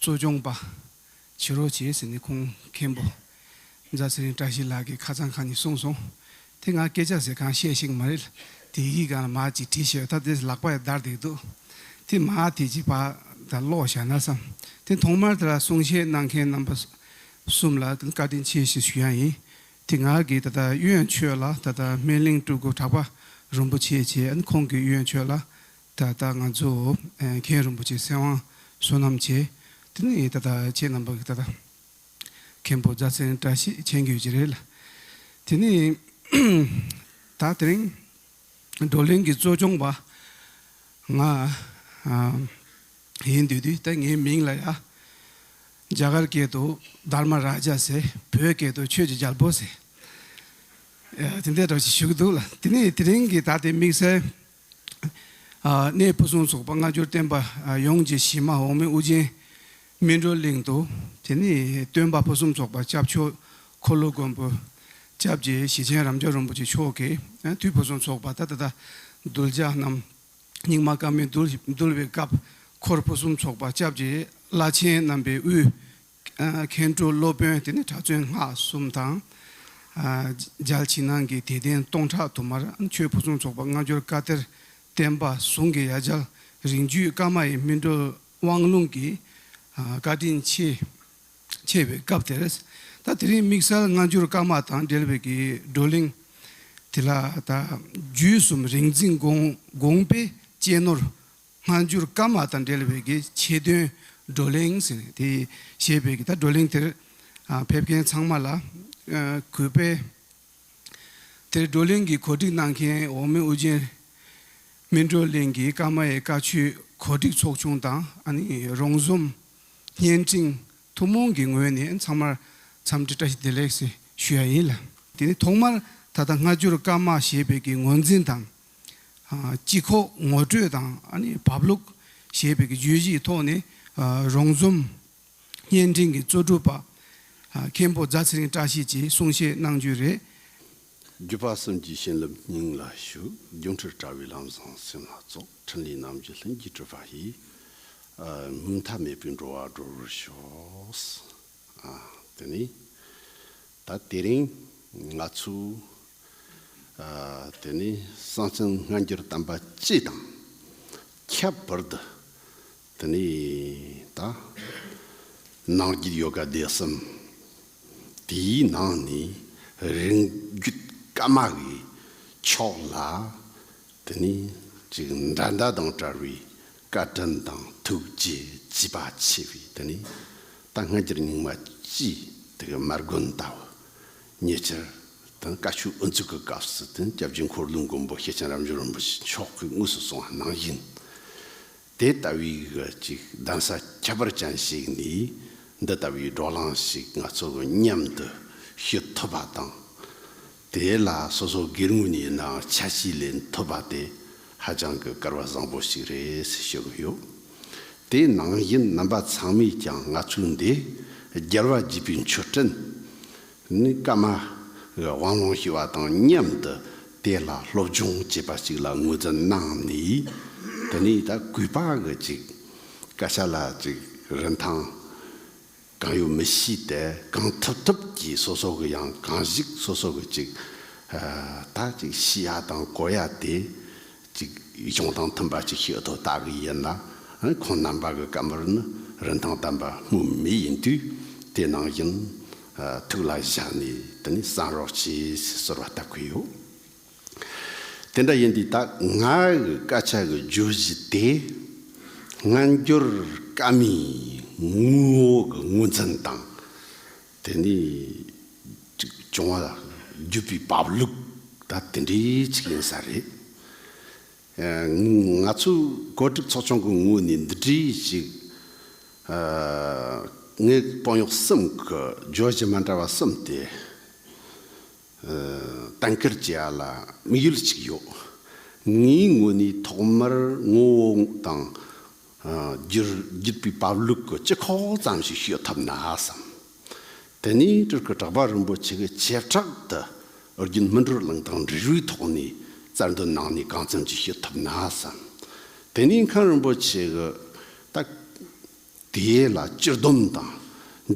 གཙོ་སྐྱོང་པ། བྱི་རོ་བྱེད་ཟེར་ནས་ཁོང་མཁན་པོ། རྫ་ཚེ་རིང་བཀྲ་ཤིས་ལགས་ཀྱིས་ཁ་ཚང་ཁང་ནས་གསུངས་སོང། དེ་ང་སྐད་ཆ་ཟེར་གང་བཤད་ཤེས་ཀྱི་མ་རེད། དེ་ཡི་གེ་གང་ལ་མ་ཅིག་བྲིས་ཤེས་ད་དེ་ལག་པ་ཡང་འདར་བསྡད་འདུག། དེ་མ་དེ་ཅིག་བག་དང་ལོག་བཞག་ན་བསམ། དེ་ཐོག་མར་དེ་ལ་གསུང་བཤད་གནང་མཁན་རྣམ་པ་གསུམ་ལ་བཀའ་དྲིན་ཆེ་ཞེས་ཞུ་ཡང་ཡིན། དེ་ང་གིས་ད་ལྟ་གཡོན་ཆོས་ལ་ད་ལྟ་སྨན་གླིང་སྤྲུལ་སྐུ་གྲགས་པ་རིན་པོ་ཆེ་བྱས་ཁོང་གིས་གཡོན་ཆོས་ལ་ད་ལྟ་ང་ཚོ་མཁན་རིན་པོ་ཆེ་སེམས་དབང་བསོད་ནམས་བྱེད་དེ་ནི་ད་ལྟ་ཁྱེད་རྣམ་པ་གི་ད་ལྟ་མཁན་པོ་རྫ་ཚེན་བཀྲ་ཤིས་མཁྱེན་རྒྱུད་ཀྱི་རེད་ལ་དེ་ནི་ད་དེ་རིང་བགྲོ་གླེང་གི་གཙོ་སྐྱོང་བ་ང་ཡིན་དུས་དུས་ད་ངའི་མིང་ལ་ཡ་རྒྱ་གར་སྐད་དུ་དར་མ་ར་ཇ་ཟེར་བོད་སྐད་དུ་ཆོས་ཀྱི་རྒྱལ་པོ་ཟེར་ཡ་དེ་འད་དྲག་ཅིག་ཞུ་གི་འདུག་ལ་དེ་ནི་དེ་རིང་གི་ད་ལྟའི་དམིགས་བསལ། གནས་ཕུན་སུམ་ཚོགས་པ་སྔ་འགྱུར་བསྟན་པ་ཡོངས་ཀྱི་གཞི་མ་འོག་མིན་དབུ་རྒྱན་སྨིན་གྲོལ་གླིང་དུ། དེ་ནས་སྟོན་པ་ཕུན་སུམ་ཚོགས་པ་སྐྱབས་མཆོག་འཁོར་ལོ་མགོན་པོ། སྐྱབས་ཀྱི་ཞི་ཆེན་རབ་འབྱོར་རིན་པོ་ཆེ་མཆོག་གིས་དུས་ཕུན་སུམ་ཚོགས་པ་ད་ལྟ་གདུལ་བྱ་རྣམས་སྙིགས་མ་སྐར་མའི་རྡུལ་བའི་སྐབས་འཁོར་ཕུན་སུམ་ཚོགས་པ་སྐྱབས་ཀྱི་བླ་ཆེན་རྣམ་པའི་དབུས་མཁན་སྤྲུལ་སློབ་དཔོན་དེ་ནི་གྲྭ་བཙུན་སྔགས་གསུམ་དང། མཇལ་ཕྱི་ནང་གི་དད་ལྡན་སྟོང་ཕྲག་དུ་མར་ཆོས་ཕུན་སུམ་ཚོགས་པ་སྔ་འགྱུར་བཀའ་གཏེར་བསྟན་པ་ཟུང་གི་ཡ་བྱལ་རིང་བརྒྱུད་བཀའ་མ་ཡི་སྨིན་གྲོལ་དབང་ལུང་གི་བཀའ་དྲིན་ཆེ། ཆེ་བའི་སྐབས་དེར། ད་དེ་རིང་དམིགས་བསལ་སྔ་འགྱུར་བཀའ་མ་དང་འབྲེལ་བའི་བགྲོ་གླེང་དེ་ལ། བརྒྱུད་གསུམ་རིག་འཛིན་དགོངས་པའི་གཅེས་ནོར་སྔ་འགྱུར་བཀའ་མ་དང་འབྲེལ་བའི་གི་ཆེད་དོན་བགྲོ་གླེང་ཟེར་ནས་དེ་བཤད་པའི་གི་ད་བགྲོ་གླེང་དེར་ཕེབས་མཁན་ཚང་མ་ལ་གུས་པས། དེར་བགྲོ་གླེང་གི་གོ་སྒྲིག་གནང་མཁན་འོག་མིན་དབུ་ཅན་མི་བགྲོ་གླེང་གི་བཀའ་མ་ཡི་བཀའ་ཆོས་གོ་སྒྲིག་ཚོགས་ཆུང་དང་ཨ་ནི་རོང་ཟོམ་བརྙན་འཕྲིན་ཐུན་མོང་གི་ངོས་ནས་ཚང་མར་འཚམས་འདྲི་བཀྲ་ཤིས་བདེ་ལེགས་སི་ཞུ་ཡ་ཡིན་ལ། དེ་ནི་ཐོག་མར་ད་ལྟ་སྔ་འགྱུར་བཀའ་མ་ཞེས་པའི་གི་ངོས་འཛིན་དང་སྤྱི་ཁོག་ངོ་སྤྲོད་དང་བབ་ལུགས་ཞེས་པའི་བརྗོད་གཞིའི་ཐོག་ནས་རོང་ཟོམ་བརྙན་འཕྲིན་གྱི་གཙོ་སྒྲུབ་པ་མཁན་པོ་རྫ་ཚེ་རིང་བཀྲ་ཤིས་ཀྱིས་གསུང་བཤད་གནང་རྒྱུ་རེད། བརྒྱུད་པ་གསུམ་གྱི་བྱིན་རླབས་སྙིང་ལ་ཞུགས་སྒྱུ་འཕྲུལ་དྲྭ་བའི་ལམ་བཟང་སེམས་ལ་སྩོགས་ཕྲིན་ལས་རྣམ་བཞི་ལྷུན་གྱིས་གྲུབ་པ་ཡི་མཐའ་མེད་པའི་འགྲོ་བ་སྒྲོལ་བར་ཤོག། དེ་ནི་ད་དེ་རིང་ང་ཚོས་དེ་ནི་གསང་ཆེན་སྔ་འགྱུར་དམ་པ་སྤྱི་དང་ཁྱད་པར་དུ་དེ་ནི་ད་ནང་རྒྱུད་ཡོ་ག་སྡེ་གསུམ་དེའི་ནང་ནས་རིང་རྒྱུད་བཀའ་མ་གི་ཕྱོགས་ལ་དེ་ནི་ཅིག་འདྲ་མདའ་དང་བྲལ་བའི་བཀའ་དྲིན་དང་ཐུགས་རྗེ་བརྗིད་པ་ཆེ་བས་འདི་ནས་ད་སྔ་འགྱུར་རྙིང་མ་སྤྱིའི་དེ་གའི་མར་དགོན་ལྟ་བུ། ཉེ་ཆར། དང་བཀའ་ཤུགས་དབུ་འཛུགས་ཀྱི་སྐབས་སུ་དེ་སྐྱབས་རྗེ་འཁོར་ལོའི་མགོན་པོ་ཤེས་བྱ་རབ་འབྱོར་རིན་པོ་ཆེ་མཆོག་གིས་དངོས་སུ་གསུང་བ་གནང་བཞིན། དེ་ལྟ་བུའི་གི་ཅིག་གདན་ས་ཁྱད་པར་ཅན་ཞིག་ནས་འདི་ལྟ་བུའི་སྒྲོག་ལངས་ཤིག་ང་ཚོ་མཉམ་དུ་ཞུ་ཐུབ་པ་དང། དེ་ལ་སོ་སོ་སྒེར་ངོས་ནས་ཡིན་ནའང་ཆ་གཅིག་ལས་འཐོབ་པ་དེ་ཧ་ཅང་གི་སྐར་བ་བཟང་པོ་ཞིག་རེད་ཞུ་གི་ཡོད། དེ་ནང་བཞིན་རྣམ་པ་ཚང་མས་ཀྱང་ང་ཚོའི་འདི་རྒྱལ་བ་དགྱེས་པའི་མཆོད་སྤྲིན་ནི་སྐར་མ་གི་དབང་ལུང་ཞུ་བ་དང་མཉམ་དུ་དེ་ལ་སློབ་སྦྱོང་བྱེད་པ་ཞིག་ལ་ངོས་འཛིན་གནང་ནས་དེ་ནས་ད་གུས་པ་གི་ཅིག་སྐད་ཆ་ལ་ཅིག་རིན་ཐང་གང་ཡོད་མི་ཤེས་ཏེ་གང་ཐུབ་ཐུབ་ཀྱིས་སོ་སོ་གི་ཡང་གང་ཞིག་སོ་སོ་གི་ཅིག་ད་ཅིག་ཤི་ཡ་དང་གོ་ཡ་དེ་ཅིག་གཞུང་དང་མཐུན་པ་ཅིག་ཤོད་དོ་ལྟ་གི་ཡིན་ལ་ཁོང་རྣམ་པ་གི་བཀའ་མོལ་ནི་རིན་ཐང་ལྡན་པ་སྨོས་མེད་ཡིན་དུས་དེ་ནང་བཞིན་ཐུགས་ལ་བཞག་ནས་དེ་ནས་བསམ་རོགས་བྱོས་ཞེས་གསོལ་བ་བཏབ་ཀི་ཡོད། དེ་འདྲ་ཡིན་དུས་ད་ང་གི་སྐད་ཆ་གི་བརྗོད་གཞི་དེ། སྔ་འགྱུར་བཀའ་མའི་དངུལ་འོག་གི་དངོས་མཚན་དང། དེ་ནས་བྱུང་བ་བརྒྱུད་པའི་བབ་ལུགས་ད་དེ་འདྲའི་ཅིག་ཡིན་ས་རེད། ང་ཚོའི་བཀོད་སྒྲིག་ཚོགས་ཆུང་གི་ངོས་ནས་འདི་འདྲའི་ཅིག་ངའི་དཔང་ཡོག་གསུམ་གི་བརྗོད་གཞི་མ་འདྲ་བ་གསུམ་དེ། གཏན་འཁེལ་བྱས་ལ་དམིགས་ཡུལ་གཅིག་ཡོད། ངའི་ངོས་ནས་ཐོག་མར་ངོ་བོ་དང། བརྒྱུད་པའི་བབ་ལུགས་ཀྱི་སྤྱི་ཁོག་ཙམ་ཞིག་ཤོད་ཐུབ་ན་བསམ། དེ་ནས་སྤྲུལ་སྐུ་གྲགས་པ་རིན་པོ་ཆེ་གི་བྱེ་བྲག་ཏུ་རྒྱུན་སྨིན་བགྲོ་གླེང་དང་འབྲེལ་བའི་ཐོག་ནས་གསར་འདོན་གནང་ནས་གང་འཚམ་ཅིག་ཤོད་ཐུབ་ན་བསམ། དེ་ནས་མཁན་རིན་པོ་ཆེ་གི་ད། དེ་ལ་སྤྱིར་སྡོམ་དང།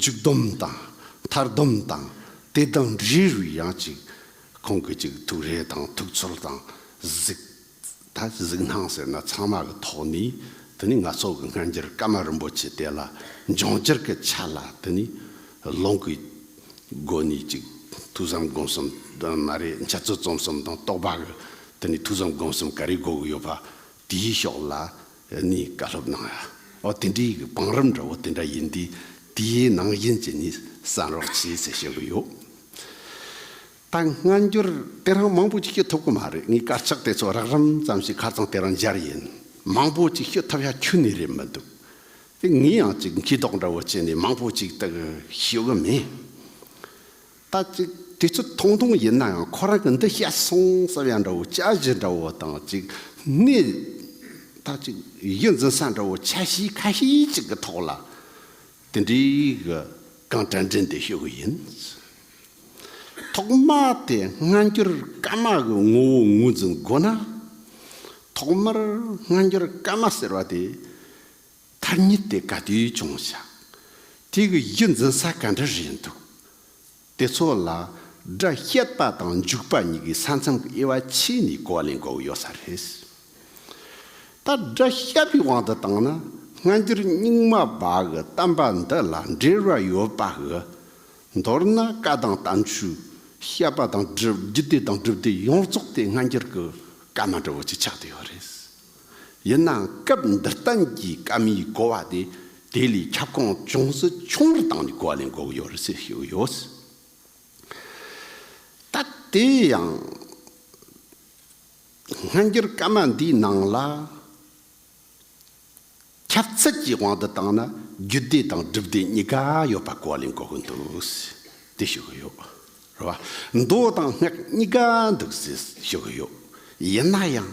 འཇུག་སྡོམ་དང། མཐར་སྡོམ་དང། ལྟེ་སྡོམ་རེ་རུ་ཡང་གཅིག་གོང་གི་གཅིག་ཐུགས་རེ་དང་ཐུགས་ཚོར་དང་གཟིགས། ད་གཟིགས་སྣང་ཟེར་ན་ཚང་མ་གི་ཐོག་ནས་དེ་ནི་ནག་ཚོགས་ཀྱི་སྔ་འགྱུར་ཀ་མ་རིན་པོ་ཆེ་དེ་ལ་འབྱུང་འགྱུར་གྱི་ཆ་ལ་དེ་ནི་ལུང་གི་སྒོ་ནས་གཅིག་ཐུགས་བསམ་སྒོམ་གསུམ་དང་མ་རེད་འཆད་རྩོད་རྩོམ་གསུམ་དང་རྟོགས་པ་གི་དེ་ནི་ཐུགས་བསམ་སྒོམ་གསུམ་ག་རེ་གོ་གི་ཡོད་པ་དེའི་ཕྱོགས་ལ་ནི་བཀའ་སློབ་གནང་ཡ། ཨོ་དེ་འདྲའི་གི་བང་རིམ་འདྲ་བོ་དེ་འདྲ་ཡིན་དུས་དེའི་ནང་བཞིན་གྱི་ནི་བསམ་རོགས་བྱས་ཚེ་ཞེས་གི་ཡོད། ད་སྔ་འགྱུར་དེ་རང་མང་པོ་ཅིག་ཤོད་ཐུབ་གི་མ་རེད་ངའི་དཀར་ཆག་དེ་ཚོ་རགས་རིམ་ཙམ་ཞིག་ཁ་ཚང་དེ་རང་སྦྱར་ཡིན་མང་པོ་ཅིག་ཤོད་ཐབས་ཡ་ཁྱོད་ནི་རེད་མི་འདུག་དེ་ངས་ཡང་ཅིག་མཁས་དོགས་འདྲ་བོ་བྱས་ནས་མང་པོ་ཅིག་དག་ཤོད་གི་མེད། ད་ཅིག་དེ་ཚོ་ཐུང་ཐུང་ཡིན་ན་ཡང་ཁོ་རང་གི་འདི་བཤད་སོང་བསམ་ཡ་འདྲ་བོ་དཔྱད་གཞི་འདྲ་བོ་དང་ཅིག་སྣེ་ད་ཅིག་ཡིད་འཛིན་ས་འདྲ་བོ་ཆ་ཤས་ཁ་ཤས་ཅིག་གི་ཐོག་ལ་དེ་འདྲའི་གི་གང་དྲན་དྲན་དེ་ཤོད་གི་ཡིན། ཐོག་མར་དེ་སྔ་འགྱུར་སྐར་མ་གི་ངོ་བོ་ངོས་འཛིན་དགོས་ན། ཐོག་མར་སྔ་འགྱུར་སྐར་མ་ཟེར་བ་དེ། ཐ་སྙད་དེ་ག་དུས་བྱུང་བཞག་དེ་གི་གཞི་འཛིན་ས་ག་འདྲ་རེད་འདུག་དེ་ཚོ་ལ་སྒྲ་བཤད་པ་དང་འཇུག་པ་གཉིས་ཀྱི་ས་མཚམས་ཀྱི་དབྱེ་བ་ཕྱི་ནས་གོ་ལེན་གོ་གི་ཡོད་ས་རེད། ད་སྒྲ་བཤད་པའི་དབང་དུ་བཏང་ན་སྔ་འགྱུར་རྙིང་མ་པ་གི་གཏམ་པ་འདི་ལ་འབྲེལ་བ་ཡོད་པ་གི། མདོར་ན་བཀའ་དང་གཏམ་ཆོས་བཤད་པ་དང་བརྒྱུད་སྡེ་དང་སྒྲུབ་སྡེ་ཡོངས་རྫོགས་དེ་སྔ་འགྱུར་གྱི་བཀའ་མ་འདྲ་བོ་ཅིག་ཆགས་དུ་ཡོད་རེད། ཡིན་ནའང་སྐབས་འདིར་བསྟན་གྱི་སྐམ་མིའི་བསྐོ་བ་དེ་དེ་ལས་ཁྱབ་ཁོངས་ཅུང་ཟད་ཆུང་བར་བཏང་ནས་བསྐོ་བ་ལས་འགོག་ཡོད་རེད་ཟེར་ཞེས་ཡོད། ད་དེ་ཡང་སྔ་འགྱུར་སྐམ་མ་འདིའི་ནང་ལ། ཁྱབ་ཚད་ཀྱི་དབང་དུ་བཏང་ན་རྒྱུད་སྡེ་དང་སྒྲུབ་སྡེ་གཉིས་ཀ་ཡོད་པ་གོ་ལེན་གོ་གི་འདུག་དེ་ཞུ་གི་ཡོད། རེད་བ། མདོ་དང་སྔགས་གཉིས་ཀ་འདུག་ཟེར་ཞུ་གི་ཡོད། ཡིན་ན་ཡང།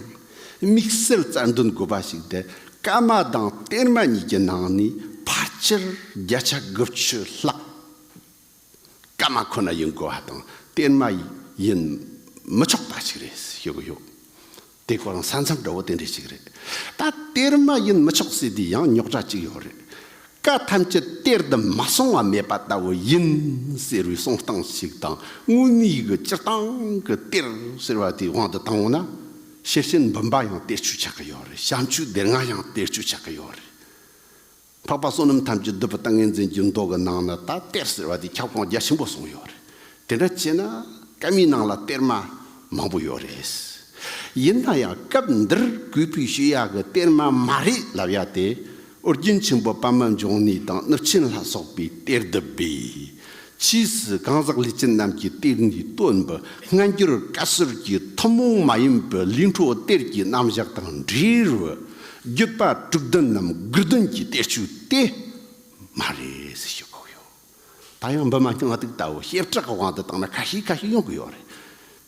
དམིགས་བསལ་རྩ་འདོན་དགོས་པ་ཞིག་དེ་ཀརྨ་དང་གཏེར་མ་གཉིས་ཀྱི་ནང་ནས་ཕར་ཆེར་བརྒྱ་ཆ་དགུ་བཅུ་ལྷག། སྐར་མ་ཁོ་ན་ཡིན་དགོས་བ་དང་གཏེར་མ་ཡིན་མི་ཆོག་པ་ཞིག་རེད་ཤོད་གི་ཡོད། དེ་གོ་རང་ས་མཚམས་འདྲ་བོ་དེ་འདྲས་ཞིག་རེད། ད་གཏེར་མ་ཡིན་མི་ཆོག་ཟེར་དུས་ཡང་རྙོག་དྲ་ཅིག་ཡོད་རེད། བཀའ་ཐམས་ཅད་གཏེར་དུ་མ་སོང་བ་མེད་པ་ལྟ་བུ་ཡིན་ཟེར་བའི་གསུང་སྟངས་ཤིག་དང་དངོས་གནས་ཀྱི་སྤྱིར་བཏང་གི་གཏེར་ཟེར་བ་དེའི་དབང་དུ་བཏང་འོང་ན། ཤེར་ཕྱིན་བུམ་པ་ཡང་གཏེར་ཆུས་ཆགས་ཀྱི་ཡོད་རེད་བྱམས་ཆུའི་སྡེར་ལྔ་ཡང་གཏེར་ཆུས་ཆགས་ཀྱི་ཡོད་རེད། འཕགས་པ་བསོད་ནམས་ཐམས་ཅད་འདོད་པའི་ལྟ་ངན་འཛིན་གྱི་མདོག་གི་ནང་ན་ད་གཏེར་ཟེར་བ་དེ་ཁྱབ་ཁོངས་རྒྱ་ཆེན་པོ་སོང་ཡོད་རེད། དེ་འདྲ་བྱས་ན་སྐད་མིའི་ནང་ལ་གཏེར་མ་མང་པོ་ཡོད་རེད། ཡིན་ན་ཡང་སྐབས་འདིར་གུས་པོས་ཤེས་ཡག་གི་གཏེར་མ་མ་རེད་ལབ་ཡག་དེ་ཨོ་རྒྱན་ཆེན་པོ་པདྨ་འབྱུང་གནས་དང་གནུབས་ཆེན་ལྷ་སོགས་པའི་གཏེར་བསྡུ་བས་ཕྱིས་སུ་གང་ཟག་ལས་ཅན་རྣམས་ཀྱི་གཏེར་འདི་སྟོན་པའི་སྔ་འགྱུར་བཀའ་སྲོལ་གྱི་ཐུན་མོང་མ་ཡིན་པའི་གླིང་ཁྲོ་གཏེར་གྱི་རྣམ་བཞག་དང་འབྲེལ་བའི་བརྒྱུད་པ་དྲུག་བདུན་ནམ་དགུ་བདུན་གྱི་གཏེར་ཆུ་དེ་མ་རེད་ཟེར་ཞེས་བཀོད་ཡོད། ད་ཡང་འབུ་མ་སྙིང་ང་གཏུགས་ལྟ་བུ་ཞེ་དྲག་གི་དབང་དུ་བཏང་ན་ཁ་ཤིག་ཁ་ཤིག་ཡོང་གི་ཡོད་རེད།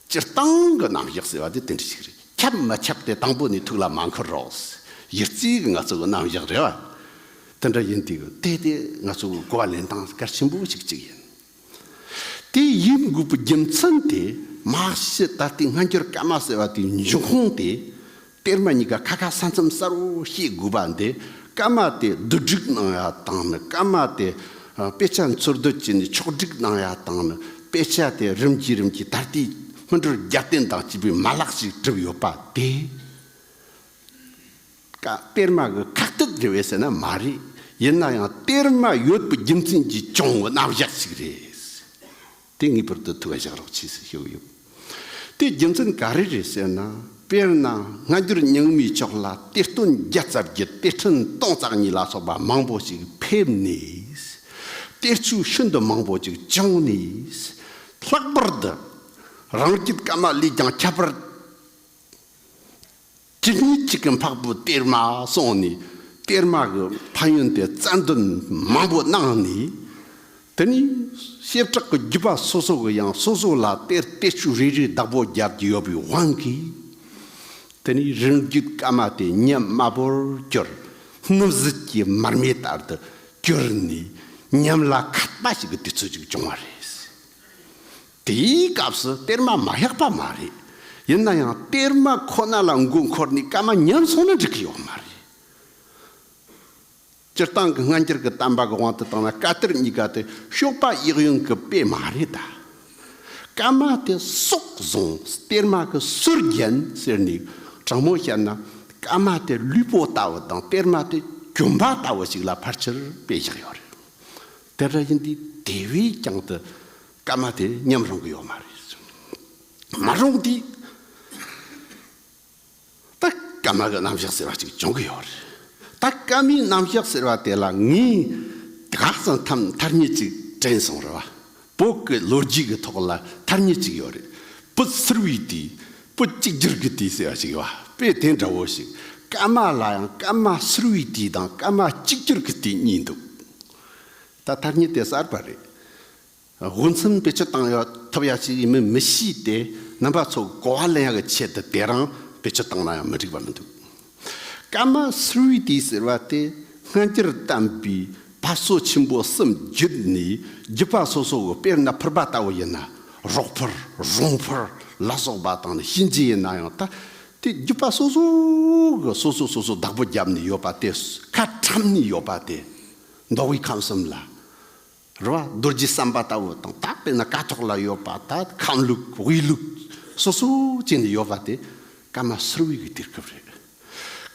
སྤྱིར་བཏང་གི་རྣམ་གཞག་ཟེར་བ་དེ་དེ་འདྲ་ཞིག་རེད། ཁྱབ་མི་ཁྱབ་དེ་དང་པོ་ནས་ཐུགས་ལ་མ་འཁོར་རོགས། གཞི་རྩའི་ང་ཚོའི་རྣམ་གཞག་རེད་བ། དེ་འདྲ་ཡིན་དུས་དེ་དེ་ང་ཚོའི་གོ་བ་ལེན་སྟངས་གལ་ཆེན་པོ་ཞིག་ཅིག་ཡིན། དེ་ཡིན་དགོས་པའི་རྒྱུ་མཚན་དེ་དམག་ཤི་ད་ལྟའི་སྔ་འགྱུར་སྐད་དམག་ཟེར་བ་དེའི་འབྱུང་ཁུངས་དེ་གཏེར་མ་གཉིས་ཀ་ཁ་ཁ་ས་མཚམས་སར་འོ་ཞེས་བསྒུགས་པ་འདི་སྐར་མ་དེས་བསྡུ་སྒྲིག་གནང་ཡ་དང་ནི་སྐར་མ་དེས་དཔེ་ཆ་འཚོལ་བསྡུ་བྱས་ནས་ཕྱོགས་སྒྲིག་གནང་ཡ་དང་ནི་དཔེ་ཆ་དེ་རིམ་གྱིས་རིམ་གྱིས་ད་ལྟའི་སྔོན་འགྲོར་རྒྱབ་རྟེན་དང་བཅས་པའི་མ་ལག་ཞིག་གྲུབ་ཡོད་པ་དེ། གཏེར་མ་གི་ཁག་ཐེག་རེད་བས་ཟེར་ན་མ་རེད། ཡིན་ན་ཡང་གཏེར་མ་ཡོད་པའི་རྒྱུ་མཚན་གྱིས་བྱུང་བའི་རྣམ་གཞག་ཞིག་རེད། དེ་ངེས་པར་དུ་ཐུགས་ཀ་བཞག་རོགས་གྱིས་ཟེར་ཞོར་ཡོད། དེའི་རྒྱུ་མཚན་ག་རེ་རེད་ཟེར་ན། དཔེར་ན་སྔ་འགྱུར་རྙིང་མའི་ཕྱོགས་ལ་གཏེར་སྟོན་བརྒྱ་རྩ་བརྒྱད་གཏེར་ཕྲན་སྟོང་རྩ་གཉིས་ལ་སོགས་པ་མང་པོ་ཞིག་ཕེབས་ནས། གཏེར་ཆུ་ཤིན་ཏུ་མང་པོ་ཅིག་བྱུང་ནས། ལྷག་པར་དུ་རང་སྐྱིད་ཀ་མ་ལས་ཀྱང་ཁྱད་པར་གཅིག་ཉིན་གཅིག་གི་འཕགས་བུ་གཏེར་མ་སོང་ནས་གཏེར་མ་གི་ཕ་ཡོན་ཏན་རྩ་འདོན་མང་པོ་གནང་ནས། དེ་ནས་ཤེལ་བྲག་གི་རྒྱུད་པ་སོ་སོ་གི་ཡང་སོ་སོ་ལ་གཏེར་གཏེར་བཅུ་རེ་རེའི་བདག་པོ་སྦྱར་གྱི་ཡོད་པའི་དབང་གིས། དེ་ནས་རིང་བརྒྱུད་བཀའ་མ་དེ་ཉིད་དམར་པོར་གྱུར། སྣུམ་ཟིལ་གྱི་མར་མེ་ལྟར་དུ་གྱུར་ནས་ཉམས་ལ་ཁ་བཏགས་ཤིག་གི་དུས་ཚོད་ཅིག་བྱུང་བ་རེད། དེའི་སྐབས་སུ་གཏེར་མ་མ་བཞག་པ་མ་རེད། ཡིན་ན་ཡང་གཏེར་མ་ཁོ་ན་ལ་མགོ་འཁོར་ནས་སྐར་མ་ཉམས་སོང་ན་འགྲིག་གི་ཡོད་མ་རེད། སྤྱིར་བཏང་གི་སྔ་འགྱུར་གྱི་གཏམ་པ་གི་དབང་དུ་བཏང་ན་བཀའ་གཏེར་གཉིས་ཀ་དེ་ཤོག་པ་གཡག་ཡོན་གྱི་དཔེ་མ་རེད་ད། སྐར་མ་དེ་སྲོག་བཟུང་གཏེར་མ་གི་སུར་བརྒྱན་ཟེར་ནས་དྲང་མོ་བཤད་ན་སྐར་མ་དེ་ལུས་པོ་ལྟ་བུ་དང་གཏེར་མ་དེ་གྱོན་པ་ལྟ་བུ་ཞིག་ལ་ཕར་ཆེར་དཔེ་བཞག་ཡོད་རེད། དེ་འདྲ་ཡིན་དུས་དེ་བས་ཀྱང་དུ་སྐར་མ་དེ་མཉམ་རུང་གི་ཡོད་མ་རེད་གསུངས། མ་རུང་དུས་ད་སྐར་མ་གི་རྣམ་གཞག་ཟེར་བ་ཅིག་འབྱུང་གི་ཡོད་རེད། ད་སྐར་མའི་རྣམ་གཞག་ཟེར་བ་དེ་ལ་ངས་ག་ཙམ་ཐམ་མཐར་ཉིད་ཅིག་དྲན་སོང་རེད་བ། བོད་ཀྱི་ལོ་རྒྱུས་ཀྱི་ཐོག་ལ་མཐར་ཉིད་ཅིག་ཡོད་རེད། བོད་ཚུར་བའི་དུས་བོད་གཅིག་གྱུར་གྱི་དུས་ཟེར་བ་ཞིག་ཡོད་བ་དཔེ་དེ་འདྲ་བོ་ཞིག་སྐར་མ་ལ་ཡང་སྐར་མ་ཚུར་བའི་དུས་དང་སྐར་མ་གཅིག་གྱུར་གྱི་དུས་གཉིས་འདུག་ད་ལྟ་ཉིད་དེ་གསར་པ་རེད། དབུ་མཚམས་བེད་སྤྱོད་བཏང་ཡོད་ཐུབ་ཡག་ཅིག་ཡིན་མིན་མི་ཤེས་ཏེ་རྣམ་པ་ཚོ་གོ་བ་ལེན་ཡག་གི་ཆེད་དུ་དེ་རང་བེད་སྤྱོད་བཏང་ན་ཡང་མི་འགྲིག་པ་མི་འདུག་སྐར་མ Three D ཟེར་བ་དེ་སྔ་འགྱུར་བལྟམས་པའི་བབ་བཟོ་ཆེན་པོ་གསུམ་བརྒྱུད་ནས་བརྒྱུད་པ་སོ་སོ་གི་དཔེར་ན་ཕུར་པ་ལྟ་བུ་ཡིན་ན་རོག་ཕུར་རོང་ཕུར་ལ་སོགས་པ་དང་ནི་གཤིན་རྗེ་ཡིན་ན་ཡང་ད་དེ་བརྒྱུད་པ་སོ་སོ་གི་སོ་སོ་སོ་སོ་བདག་པོ་བརྒྱབ་ནས་ཡོད་པ་དེ་ཁ་ཁྲམ་ནས་ཡོད་པ་དེ། མདོ་དབུས་ཁམས་གསུམ་ལ་རུ་བ་རྡོ་རྗེ་བསམ་པ་ལྟ་བུ་དང་དག་པས་ན་ཀ་ཐོག་ལ་ཡོད་པ་ད་ཁམས་ལུགས་དབུས་ལུགས་སོ་སོ་ཅན་ནས་ཡོད་པ་དེ་ཀརྨ་ཟུར་བུའི་གི་དུས་སྐབས་རེད།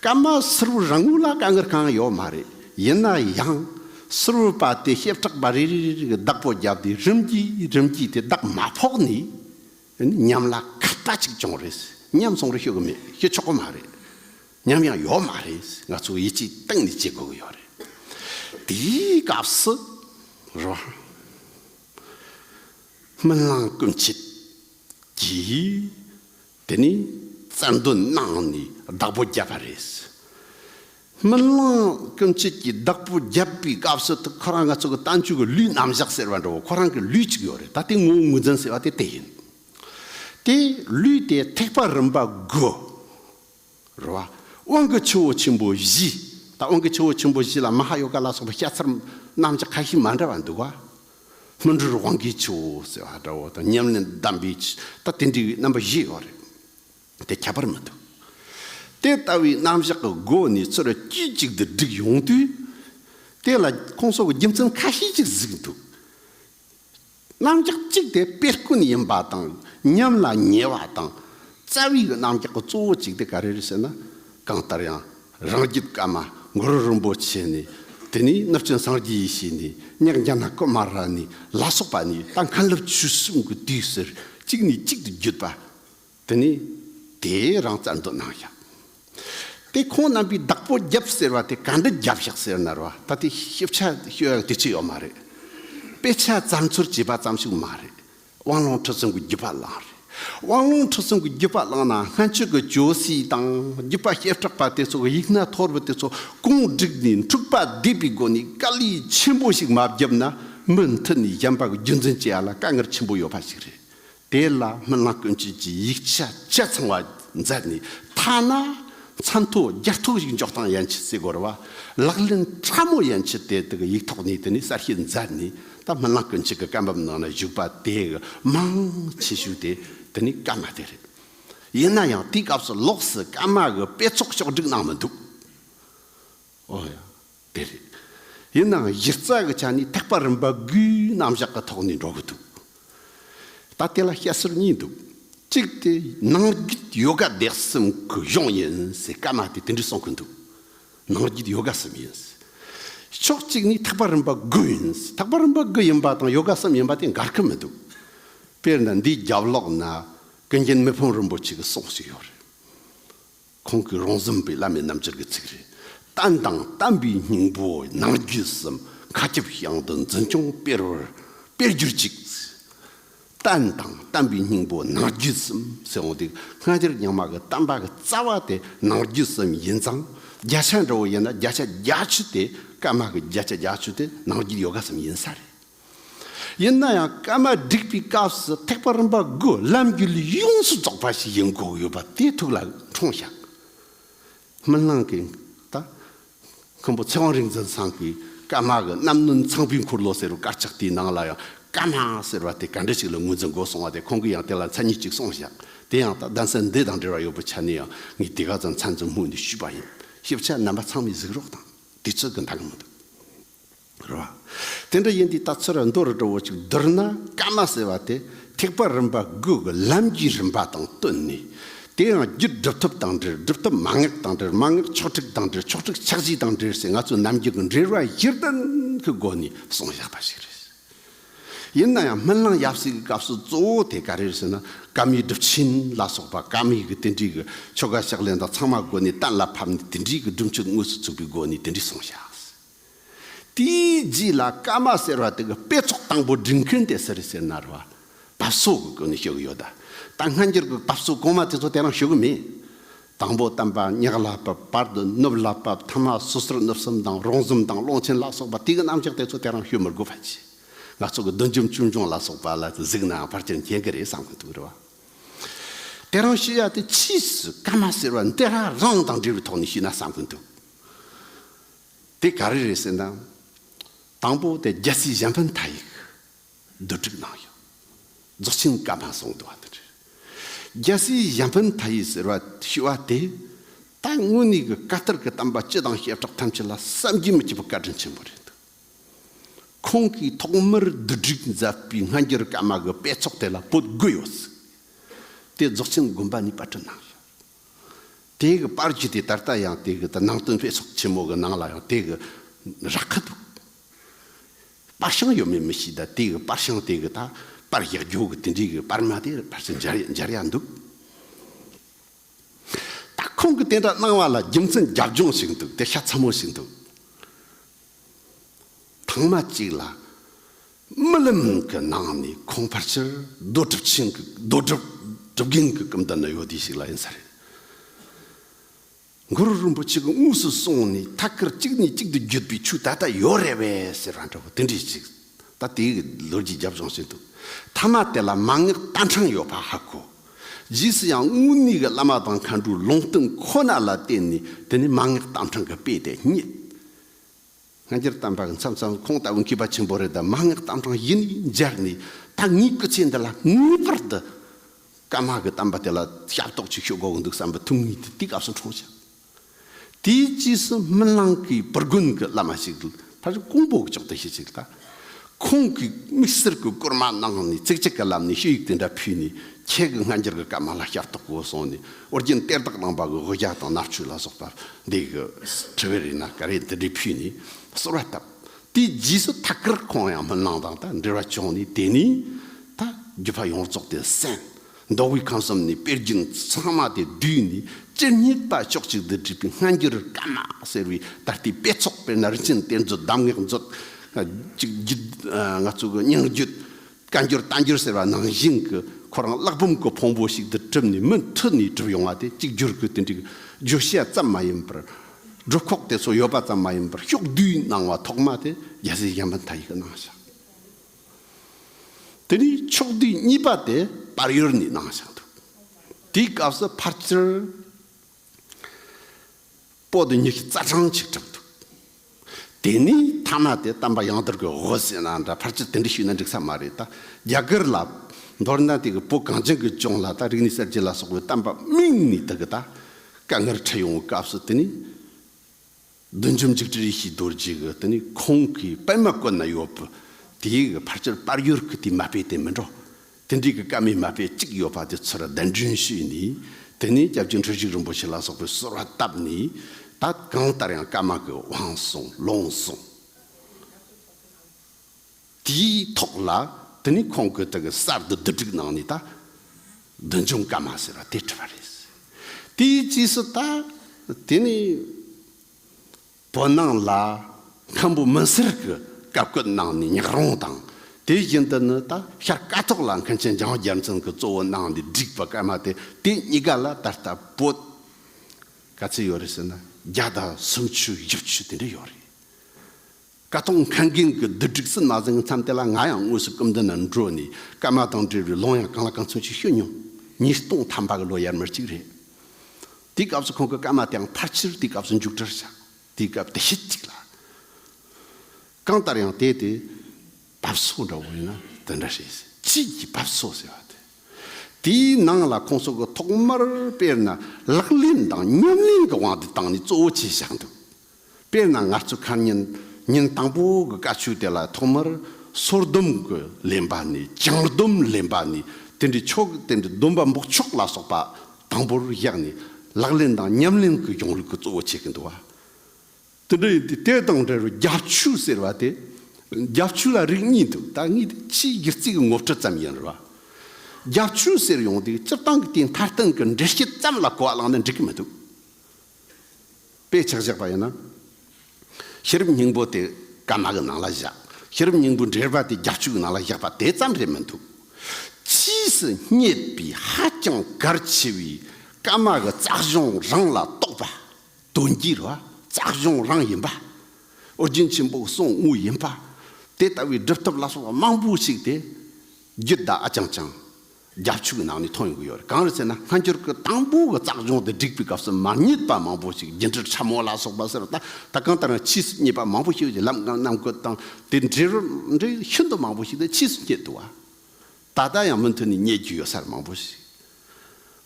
ཀརྨ་ཟུར་བུ་རང་ངོས་ལ་དཀའ་ངལ་གང་ཡང་ཡོད་མ་རེད་ཡིན་ན་ཡང་ཟུར་བུ་པ་དེ་ཞེབས་ཁྲག་པ་རེ་རེ་རེ་གི་བདག་པོ་བརྒྱབ་སྟེ་རིམ་གྱིས་རིམ་གྱིས་དེ་བདག་མ་ཕོག་ནས་ཉམས་ལ་ཁ་བརྡ་གཅིག་བྱུང་རེད། ཉམས་སོང་རེད་ཤོད་གི་མེད་ཤོད་ཆོག་གི་མ་རེད། ཉམས་ཡང་ཡོད་མ་རེད། ང་ཚོ་ཡིད་ཆེས་གཏིང་ནས་བྱེད་དགོས་གི་ཡོད་རེད། དེའི་སྐབས་སུ་རང་སྨོན་ལམ་སྐུ་མཆེད་ཀྱིས་དེ་ནས་བཙན་འདོན་གནང་ནས་བདག་པོ་བརྒྱབ་པ་རེད། སྨོན་གླིང་སྐྱོན་བཅས་ཀྱི་བདག་པོ་བརྒྱབ་པའི་སྐབས་སུ་ཐུག་ཁོ་རང་ང་ཚོ་གི་ལྟ་མཆོད་ཀྱི་ལུས་རྣམ་བཞག་ཟེར་བ་འདྲ་བོ་ཁོ་རང་གི་ལུས་གཅིག་ཡོད་རེད་ད་དེ་ངོ་བོ་ངོས་འཛིན་ཟེར་བ་དེ་དེ་ཡིན། དེ་ལུས་དེ་ཐེག་པ་རིམ་པ་དགུ། རུ་བ། དབང་གི་ཆུ་བོ་ཆེན་པོ་བཞི། ད་དབང་གི་ཆུ་བོ་ཆེན་པོ་བཞི་ལ་མ་ཧཱ་ཡོ་ག་ལ་སོགས་པའི་བཤད་ཚུལ་རྣམས་ཀྱི་ཁ་ཞེ་མ་འདྲ་བ་འདུག་བ། སྨིན་གྲོལ་དབང་གི་ཆུ་བོ་ཟེར་བ་འདྲ་བོ་དང་ཉམས་ལེན་གདམས་པའི་ཆུ་ད་དེ་འདྲ་བའི་རྣམ་པ་བཞི་ཡོད་རེད། དེ་ཁྱད་པར་མི་འདུག། དེ་ལྟ་བུའི་རྣམ་གཞག་གི་སྒོ་ནས་ཚུར་དཀྱུས་གཅིག་ཏུ་བསྒྲིགས་ཡོང་དུས། དེ་ལ་ཁོང་སོགས་ཀྱི་རྒྱུ་མཚན་ཁ་ཤས་ཀྱིས་གཟིགས་འདུག། རྣམ་གཞག་གཅིག་དེ་དཔེ་དཀོན་ཡིན་པ་དང་ཉམས་ལ་ཉེ་བ་དང། རྩ་བའི་རྣམ་གཞག་གི་གཙོ་བོ་གཅིག་དེ་ག་རེ་རེད་ཟེར་ན། གང་ལྟར་ཡང་རང་རྒྱུད་ཀརྨ་མགོ་རུ་རིན་པོ་ཆེ་ནས་དེ་ནས་གནུབས་ཆེན་སངས་རྒྱས་ཡེ་ཤེས་ནས་གཉགས་འཇའ་ན་ཀུ་མ་ར་ནས་ལ་སོགས་པ་ནས་ད་མཁའ་འགྲུབ་ཆོས་གསུམ་གྱི་དུས་ཟེར་གཅིག་ནས་གཅིག་ཏུ་བརྒྱུད་པ། དེ་ནས་དེའི་རང་རྩལ་འདོད་སྣང་བཞག། དེ་ཁོང་རྣམ་པའི་བདག་པོ་རྒྱབ་ཟེར་བ་དེ་ག་འདི་རྒྱབ་བཞག་ཟེར་ནར་བ་ད་ལྟའི་ཤེས་བྱ་ཤེས་ཡོན་དེ་ཆི་ཡོད་མ་རེད། དཔེ་ཆ་བཙལ་འཚོལ་བྱས་པ་ཙམ་ཞིག་མ་རེད། དབང་ལུང་ཁྲིད་གསུམ་གྱི་བརྒྱུད་པ་བླངས་རེད། དབང་ལུང་ཁྲིད་གསུམ་གྱི་བརྒྱུད་པ་བླངས་ན་སྔན་ཆད་ཀྱི་ཇོ་སྲིད་དང་བརྒྱུད་པ་བཤད་གྲགས་པ་དེ་ཚོ་གི་ཡིག་སྣ་ཐོར་བུ་དེ་ཚོ་གུང་བསྒྲིགས་ནས་འཁྲུགས་པ་བསྡེབས་པའི་སྒོ་ནས་དཀའ་ལས་ཆེན་པོ་ཞིག་མ་བརྒྱབ་ན་མུ་མཐུད་ནས་གཞན་པ་གི་རྒྱུད་འཛིན་བྱེད་ཡ་ལ་དཀའ་ངལ་ཆེན་པོ་ཡོད་པ་ཞིག་རེད། དེ་ལ་མི་སྣ་ཀུན་སྤྱོད་ཀྱི་ཡིག་ཆ་སྤྱད་ཚང་བ་མཛད་ནས་ཐ་ན་མཚན་ཐོ་བརྒྱད་ཐོག་ཡིག་འཇོག་སྟངས་ཡན་ཆད་རྩིས་གོ་ར་བ་ལག་ལེན་ཕྲ་མོ་ཡན་ཆད་དེ་དག་ཡིག་ཐོག་ནས་དེ་ནས་གསར་ཤོས་མཛད་ནས་ད་མི་སྣ་ཀུན་སྤྱོད་ཀྱི་སྐད་འབབ་ནང་ན་བཞུགས་པ་དེ་ག་མང་ཆེ་ཤོས་དེ་དེ་ནས་སྐད་མ་དེ་རེད། ཡིན་ན་ཡང་དེའི་སྐབས་སུ་ལོགས་སུ་སྐད་མ་གི་དཔེ་ཚོགས་ཕྱོགས་བསྒྲིགས་གནང་མི་འདུག་ཨོ་ཡ། དེ་རེད། ཡིན་ནའང་གཞི་རྩ་གི་ཆ་ནས་ཐེག་པ་རིམ་པ་དགུའི་རྣམ་གཞག་གི་ཐོག་ནས་འགྲོ་གི་འདུག་ད་དེ་ལ་བཤད་སྲོལ་གཉིས་འདུག་གཅིག་དེ་ནང་རྒྱུད་ཡོ་ག་བདེ་གསུམ་གི་གཞུང་ཡིན་ཟེར་ཀ་མ་དེ་དེ་འདྲས་གསུང་གི་འདུག་ནང་རྒྱུད་ཡོ་ག་གསུམ་ཡིན་ཟེར། ཕྱོགས་གཅིག་ནས་ཐེག་པ་རིམ་པ་དགུ་ཡིན་ཟེར་ཐེག་པ་རིམ་པ་དགུ་ཡིན་པ་དང་ཡོ་ག་གསུམ་ཡིན་པ་དེ་འགལ་གི་མི་འདུག་དཔེར་ན་འདིའི་རྒྱབ་ལོགས་ན་ཀུན་མཁྱེན་མི་ཕམ་རིན་པོ་ཆེ་གི་གསུང་ཞིག་ཡོད་རེད། ཁོང་གི་རོང་ཟོམ་པའི་བླ་མའི་རྣམ་འགྱུར་གྱི་ཚིག་རེ་བསྟན་དང་བསྟན་པའི་སྙིང་པོ་ནང་རྒྱུད་གསུམ་མཁའ་ཁྱབ་དབྱངས་དུ་འཛིན་སྐྱོང་སྤེལ་བར་སྤེལ་གྱུར་ཅིག། བསྟན་དང་བསྟན་པའི་སྙིང་པོ་ནང་རྒྱུད་གསུམ་ཟེར་འོང་དུས་སྔ་འགྱུར་རྙིང་མ་གི་བསྟན་པ་གི་རྩ་བ་དེ་ནང་རྒྱུད་གསུམ་ཡིན་ཙང་བརྒྱ་ཆ་འདྲ་བོ་ཡིན་ན་བརྒྱ་ཆ་བརྒྱ་བཅུ་དེ་ཀརྨ་གི་བརྒྱ་ཆ་བརྒྱ་བཅུ་དེ་ནང་རྒྱུད་ཡོ་ག་གསུམ་ཡིན་ས་རེད། ཡིན་ན་ཡང་སྐར་མ་བསྒྲིགས་པའི་སྐབས་སུ་ཐེག་པ་རིམ་པ་དགུ་ལམ་རྒྱུད་ལས་ཡོངས་སུ་རྫོགས་པ་ཞིག་ཡིན་དགོས་ཡོད་པ་དེ་ཐུགས་ལ་འཁྲུངས་ཤག། སྨིན་ལང་གི་ད་མཁན་པོ་ཚེ་དབང་རིག་འཛིན་ཚང་གིས་སྐར་མ་གི་རྣམ་སྣུན་ཚངས་པའི་འཁོར་ལོ་ཟེར་བའི་དཀར་ཆག་དེའི་ནང་ལ་ཡང་སྐར་མ་ཟེར་བ་དེ་ག་འདྲ་ཞིག་ལ་ངོས་འཛིན་དགོས་གསུངས་བ་དེ་ཁོང་གིས་ཡང་དེ་ལ་མཚན་ཉིད་ཅིག་གསུངས་ཤག་དེ་ཡང་ད་གདན་ས་འདི་དང་འབྲེལ་བ་ཡོད་པའི་ཆ་ནས་ཡང་ངས་དེ་ག་ཙམ་མཚན་འཛིན་སྨོས་འདུན་ཞུས་པ་ཡིན་ཞིབ་ཆ་རྣམ་པ་ཚང་མའི་གཟིགས་རོགས་དང་དུས་ཚོད་ཀྱི་འདང་ངེས་མི་འདུག། རེད་བ། དེ་འདྲ་ཡིན་དུས་ད་ཚུར་མདོ་རུ་འགྲོ་འོ་ཅིག་བསྡུར་ན་སྐར་མ་ཟེར་བ་དེ་ཐེག་པ་རིམ་པ་དགུ་གི་ལམ་རྒྱུད་རིམ་པ་དང་བསྟུན་ནས། དེ་ཡང་རྒྱུད་སྒྲུབ་ཐབས་དང་འབྲེལ་སྒྲུབ་ཐབས་མ་ངེག་དང་འབྲེལ་མ་ངེག་ཆོག་ཁྲིགས་དང་འབྲེལ་ཆོག་ཁྲིགས་ཕྱག་བཞི་དང་འབྲེལ་སའི་ང་ཚོའི་རྣམ་འགྱུར་གྱི་འབྲེལ་བ་གཞི་རྟེན་གྱི་སྒོ་ནས་གསུངས་བཞག་པ་ཞིག་རེད། ཡིན་ན་ཡང་སྨོན་ལམ་ཡབ་སྲས་ཀྱི་སྐབས་སུ་གཙོ་བོ་དེ་ག་རེད་ཟེར་ན་ཀརྨའི་སྒྲུབ་ཆེན་ལ་སོགས་པ་ཀརྨ་ཡིག་གི་དེ་འདྲིས་ཀྱི་ཆོ་ག་ཕྱག་ལེན་དང་ཚང་མ་སྒོ་ནས་གཏན་ལ་ཕབ་ནས་དེ་འདྲིས་ཀྱི་སྒྲུབ་མཆོད་དངོས་སུ་ཚུགས་པའི་སྒོ་ནས་དེ་འདྲིས་གསུངས་བཞག། དེའི་རྗེས་ལ་ཀ་མ་ཟེར་བ་དེ་གི་དཔེ་ཚོགས་དང་པོ་འབྲི་མཁན་དེ་སེར་སེར་ནར་བ་དཔའ་བསོ་གི་སྒོ་ནས་ཞུ་གི་ཡོད། ད་སྔ་འགྱུར་གི་དཔའ་བསོ་གོང་མ་དེ་ཚོ་དེ་རང་ཞུ་གི་མེད། དང་པོ་དམ་པ་ཉག་ལ་བབས་བར་དུ་ནུབ་ལ་བབས་ཐ་མ་སོ་སོར་ནུབ་གསུམ་དང་རོང་གསུམ་དང་ཀློང་ཆེན་ལ་སོགས་པ་དེ་གི་རྣམ་གཞག་དེ་ཚོ་དེ་རང་ཞུ་མི་དགོས་པ་ཅི། ང་ཚོ་གི་བདུད་འཇོམས་ཆོས་འབྱུང་ལ་སོགས་པ་ལ་གཟིགས་ནའང་ཕར་ཆེར་མཁྱེན་གི་རེད་བསམ་གི་འདུག་རེད་བ། དེ་རང་ཞུ་ཡ་དེ་ཕྱིས་སུ་ཀ་མ་ཟེར་བ་འདི་རང་རང་དང་འབྲེལ་བའི་ཐོག་ནས་ཞུས་ན་བསམ་གི་འདུག། དེ་ག་རེ་རེད་ཟེར་ན། དང་པོ་དེ་རྒྱལ་སྲིད་གཞན་ཕན་མཐའ་ཡིག་བསྡུ་སྒྲིག་གནང་ཡོད། རྫོགས་ཆེན་བཀའ་མ་གསུང་བསྡུ་བ་དང་འབྲེལ། རྒྱལ་སྲིད་གཞན་ཕན་མཐའ་ཡིག་ཟེར་བ་ཞུས་བ་དེ། ད་དངོས་གནས་ཀྱི་བཀའ་ལྟར་གྱི་གཏམ་པ་སྤྱི་དང་བྱེ་བྲག་ཐམས་ཅད་ལ་བསམ་གྱིས་མི་ཁྱབ་པའི་བཀའ་དྲིན་ཆེན་པོ་རེད་འདུག། ཁོང་གིས་ཐོག་མར་བསྡུ་སྒྲིག་མཛད་པའི་སྔ་འགྱུར་བཀའ་མ་གི་དཔེ་ཚོགས་དེ་ལ་བོད་དགོས་ཡོད་ཟེར་ཏེ་རྫོགས་ཆེན་དགོན་པ་ནས་པར་སྐྲུན་གནང་ཡོད། དེའི་གི་པར་གྱིས་དེ་ད་ལྟ་ཡང་དེའི་གི་ནང་དོན་དཔེ་ཚོགས་ཆེན་མོ་གི་ནང་ལ་ཡང་དེའི་གི་ར་ཁ་འདུག། པར་ཤང་ཡོད་མེད་མི་ཤེས་ད་དེའི་གི་པར་ཤང་དེའི་གི་ད་པར་གཞག་རྒྱུའོ་གི་དེ་འདྲའི་གི་པར་མ་དེ་ཕར་ཚུར་འབྱར་འབྱར་ཡ་འདུག། ད་ཁོང་གི་དེ་འདྲ་གནང་བ་ལ་རྒྱུ་མཚན་རྒྱབ་ལྗོངས་ཤིག་འདུག་དེ་ཤ་ཚ་མོ་ཞིག་འདུག། ཐང་མ་གཅིག་ལ། རྨི་ལམ་གྱི་ནང་ནས་ཁོང་ཕར་ཆེར་རྡོ་གྲུབ་ཆེན་གྱི་རྡོ་གྲུབ་གྲུབ་རྒན་གྱི་སྐུ་མདུན་ན་ཡོད་དུས་ཤིག་ལ་ཡིན་ས་རེད། མགུར་རིན་པོ་ཆེ་གི་དངོས་སུ་སོང་ནས་ཐ་སྐར་གཅིག་ནས་གཅིག་ཏུ་བརྒྱུད་པའི་ཆུ་ད་ལྟ་ཡོད་རེད་བས་ཟེར་བ་འདྲ་བོ་དེ་འདྲས་ཅིག་ད་དེའི་ལོ་རྒྱུས་རྒྱབ་ལྗོངས་བྱེད་འདུག་མཐའ་མ་དེ་ལ་མ་ངེས་རྟ་འཕྲང་ཡོད་པ་ཧ་གོ། རྗེས་སུ་ཡང་དངོས་གནས་ཀྱི་བླ་མ་དང་མཁའ་འགྲོའི་ལུང་བསྟན་ཁོ་ན་ལ་བརྟེན་ནས་དེ་ནས་མ་ངེས་རྟ་འཕྲང་གི་དཔེ་དེ་རྙེད། སྔ་འགྱུར་གཏམ་དྲངས་མཚམས་མཚམས་ཁོང་ལྟ་བུ་མཁས་པ་ཆེན་པོ་རེ་ད་མ་ངག་གཏམ་དྲངས་ཡིན་ནས་མཇལ་ནས་ད་ངའི་སྐུ་ཚེ་འདི་ལ་ངེས་པར་དུ་ཀརྨ་གི་གཏམ་པ་དེ་ལ་ཞབས་ཏོག་ཅིག་ཞུ་དགོས་ཀྱི་འདུག་བསམ་པའི་ཐུགས་ངེས་དེ་དུས་སྐབས་སུ་འཁྲུངས་ཤིང། དེའི་རྗེས་སུ་སྨིན་གླིང་གི་བུ་དགོན་གྱི་བླ་མ་ཞིག་ལ་ཕར་ཕྱིན་ཀོང་པོ་ཀྱི་ཕྱོགས་དུ་ཤི་ཞིག་ལ། ཁོང་གིས་དམིགས་བསལ་གྱི་སྐོར་མ་གནང་ནས་ཚིག་གཅིག་གི་ལམ་ནས་ཤོད་ཡིག་དེ་འདྲ་ཕུལ་ནས་ཁྱེད་ཀྱི་སྔ་འགྱུར་གྱི་སྐད་མ་ལ་ཞབས་ཏོག་གོ་གསུངས་ནས་ཨོ་རྒྱན་གཏེར་བདག་རྣམ་པ་གྱི་དབུ་རྒྱག་དང་ནག་ཆུ་ལ་སོགས་པ་འདི་གི་དྲི་བའི་རིགས་ན་ག་རེ་འདི་འདྲས་ཕུལ་ནས་གསོལ་བ་བཏབ། དེའི་རྗེས་སུ་ཐ་ཀིར་ཁོང་ཡང་མི་སྣང་དང་དག་འབྲེལ་བ་བྱུང་ནས་དེ་ནས་ད་རྒྱུད་པ་ཡོངས་རྫོགས་དེ་གསན། མདོ་དབུས་ཁམས་གསུམ་ནས་དཔེར་བརྒྱུད་ཚང་མ་དེ་དུས་ནས་སྤྱིར་སྙིགས་དག་ཕྱོགས་གཅིག་ཏུ་བསྒྲིལ་པའི་སྔ་འགྱུར་བཀའ་མ་ཟེར་བའི་ད་ལྟའི་དཔེ་ཚོགས་པས་ནར་འགྱིངས་གཏེར་མཛོད་གདམས་ངག་མཛོད། གཅིག་བརྒྱུད་ང་ཚོ་གི་སྙིང་བརྒྱུད། བཀའ་འགྱུར་རྟ་འགྱུར་ཟེར་བ་ནང་བཞིན་གྱི་ཁོ་རང་གླག་འབུམ་གྱི་ཕུང་པོ་ཞིག་ཏུ་གྲུབ་ནས་མུ་མཐུད་ནས་གྲུབ་ཡོང་བ་དེ་གཅིག་བསྒྱུར་གྱི་དེ་འདྲའི་བརྗོད་བྱ་ཙམ་མ་ཡིན་པར། སྒྲུབ་ཁོག་དེ་ཚོ་ཡོད་པ་ཙམ་མ་ཡིན་པར་ཕྱོགས་བསྡུས་གནང་བ་ཐོག་མ་དེ་རྒྱལ་སྲས་གཞན་ཕན་ཐ་ཡིག་གི་གནང་བྱ། དེ་ནས་ཕྱོགས་བསྡུས་གཉིས་པ་དེ་བར་ཡོལ་ནས་གནང་བཞག་འདུག་དེའི་སྐབས་སུ་ཕར་ཆེར་པོ་ཏི་ཉི་ཤུ་རྩ་གྲངས་ཅིག་གྲགས་འདུག་དེ་ནས་ཐ་མ་དེ་གཏམ་པ་ཡང་དར་གྱི་འོ་ཟེར་ན་འདྲ་ཕར་ཆེར་དེ་འདྲ་ཞུས་ན་འགྲིག་ས་མ་རེད་ད་རྒྱ་གར་ལ་མདོར་ན་དེ་གི་བོད་གངས་ཅན་གི་ལྗོངས་ལ་ད་རིག་གནས་གསར་བརྗེ་ལ་སོགས་པའི་གཏམ་པ་དམིགས་ནས་དེ་གི་ད་དཀའ་ངལ་འཕྲད་ཡོང་བའི་སྐབས་སུ་དེ་ནི། བདུད་འཇོམས་འཇིགས་བྲལ་ཡེ་ཤེས་རྡོ་རྗེ་གི་དེ་ནས་ཁོང་གི་པདྨ་བཀོད་ན་ཡོད་པའི་དེའི་གི་ཕར་ཆེར་དཔལ་ཡུལ་གི་དེའི་མ་དཔེ་དེ་མི་འགྲོ། དེ་འདྲའི་གི་སྐར་མའི་མ་དཔེ་གཅིག་ཡོད་པ་དེ་ཚུར་བདེན་དྲན་བྱས་ནས་དེ་ནས་སྐྱབས་རྗེ་འཁྲུལ་ཞིག་རིན་པོ་ཆེ་ལ་སོགས་པའི་གསོལ་བ་བཏབ་ནས་ད་གང་ལྟར་ཡང་སྐར་མ་གི་དབང་སོང་ལོངས་སོང། དེའི་ཐོག་ལ་དེ་ནས་ཁོང་གིས་དེ་གི་གསར་དུ་བསྡུ་སྒྲིག་གནང་ནས་ད་བདུན་ཆུང་སྐར་མ་ཟེར་བ་དེ་བྲིས་པ་རེད། དེའི་རྗེས་སུ་ད་དེ་ནས་བོད་ནང་ལ་མཁན་པོ་མི་སེར་གི་བཀའ་བཀོད་གནང་ནས་ཉག་རོང་དང་དེ་བཞིན་དུ་ནི་ད་ཤར་སྐ་ཐོག་ལ་མཁན་ཆེན་འཇང་རྒྱལ་མཚན་གི་གཙོ་བོ་གནང་ནས་བསྒྲིགས་པ་སྐར་མ་དེ་དེ་གཉིས་ཀ་ལ་ད་ལྟ་བོད་ག་ཚོད་ཡོད་རེད་ཟེར་ན་བརྒྱ་དང་སུམ་ཅུ་བཞི་བཅུ་དེ་འདྲ་ཡོད་རེད། བཀའ་ཐོག་མཁན་རྒན་གྱི་བསྡུ་སྒྲིག་སུ་ན་ཟིང་གི་མཚམས་དེ་ལ་ང་ཡང་དངོས་སུ་སྐུ་མདུན་ན་འགྲོ་ནས་སྐར་མ་དང་འབྲེལ་བའི་ལུང་ཡང་གང་ལ་གང་མཚུངས་ཤིག་ཤོད་མྱོང། ཉིས་སྟོང་ཐམ་པ་གི་ལོ་ཡར་མར་ཅིག་རེད། དེའི་སྐབས་སུ་ཁོང་གི་སྐར་མ་དེའང་ཕར་ཆེར་དེའི་སྐབས་སུ་མཇུག་སྒྲིལ་བྱ། དེའི་སྐབས་དེ་ཤེད་ཅིག་ལ། གང་ལྟར་ཡང་དེ་དེ། བབས་སོ་འདྲ་བོ་ཡིན་ན་དེ་འདྲ་བྱས། དཔྱིད་ཀྱི་བབས་སོ་ཟེར་བ་དེ། དེའི་ནང་ལ་ཁོང་སོགས་ཀྱི་ཐོག་མར་དཔེར་ན་ལག་ལེན་དང་ཉམས་ལེན་གྱི་དབང་དུ་བཏང་ནས་གཙོ་བོ་བྱས་བཞག་འདུག་དཔེར་ན་ངར་ཚུགས་ཁར་ཉིན་ཉིན་དང་པོ་གི་དཀའ་ཆོས་དེ་ལ་ཐོག་མར་སོར་སྡོམ་གྱི་ལེན་པ་ནས་བྱང་སྡོམ་ལེན་པ་ནས་དེ་འདྲའི་ཆོ་ག་དེ་འདྲའི་སྡོམ་པ་འབོགས་ཆོག་ལ་སོགས་པ་དང་པོར་བཞག་ནས་ལག་ལེན་དང་ཉམས་ལེན་གྱི་གཞུང་ལུགས་ཀྱི་གཙོ་བོ་བྱེད་ཀྱི་འདུག་དེ་འདྲ་ཡིན་དུས་དེ་དང་འབྲེལ་བའི་རྒྱབ་ཆོས་ཟེར་བ་དེ་རྒྱབ་ཆོས་ལ་རིགས་གཉིས་འདུག་ད་ངས་དེ་ཕྱིའི་སྒྱུ་རྩལ་གྱི་ངོ་སྤྲོད་ཙམ་ཡིན་རུང། རྒྱབ་ཆོས་ཟེར་ཡོང་དུས་སྤྱིར་བཏང་གི་དེའི་མཐར་སྟེང་གི་འགྲེལ་བཤད་ཙམ་ལ་གོ་བ་བླངས་ན་འགྲིག་གི་མི་འདུག། པས་ཕྱག་བཞག་པ་ཡིན་ན། ཤེས་རབ་སྙིང་པོ་དེ་ཀ་མ་གི་ནང་ལ་བཞག། ཤེས་རབ་སྙིང་པོའི་འགྲེལ་པ་དེ་རྒྱབ་ཆོས་ཀྱི་ནང་ལ་བཞག་པ་དེ་ཙམ་རེད་མི་འདུག། ཕྱིས་སུ་རྙེད་པའི་ཧ་ཅང་གལ་ཆེ་བའི་ཀ་མ་གི་རྩ་གཞུང་རང་ལ་གཏོགས་པ། དོན་གྱི་ར་རྩ་གཞུང་རང་ཡིན་པ། ཨོ་རྒྱན་ཆེན་པོའི་གསུང་དངོས་ཡིན་པ། དེ་ལྟ་བུའི་སྒྲུབ་ཐབས་ལ་སོགས་པ་མང་པོ་ཞིག་དེ་རྒྱུད་བདག་ཨ་ཅང་ཅང། རྒྱབ་ཕྱོགས་ཀྱི་ནང་ནས་མཐོང་ཡོང་གི་ཡོད་རེད་གང་རེད་ཟེར་ན་སྔ་འགྱུར་གྱི་དང་པོ་གི་རྩ་སྦྱོང་དེ་བསྒྲིགས་པའི་སྐབས་སུ་མར་ཉེས་པ་མང་པོ་ཞིག་རྒྱུན་འཁྲིར་འཁྲབ་མོ་ལ་སོགས་པ་ཟེར་བ་ད་ལྟ་གང་ལྟར་ཡང་ཕྱིས་སུ་ཉེས་པ་མང་པོ་ཞིག་གི་ལམ་གང་རྣམས་བཀོད་སྟངས་དེ་འབྲེལ་རོ་འབྲེལ་ཤིན་ཏུ་མང་པོ་ཞིག་དེ་ཕྱིས་སུ་རྙེད་འདུག་བ། ད་ལྟ་ཡང་མུ་མཐུད་ནས་རྙེད་རྒྱུ་ཡོད་སར་མང་པོ་ཞིག་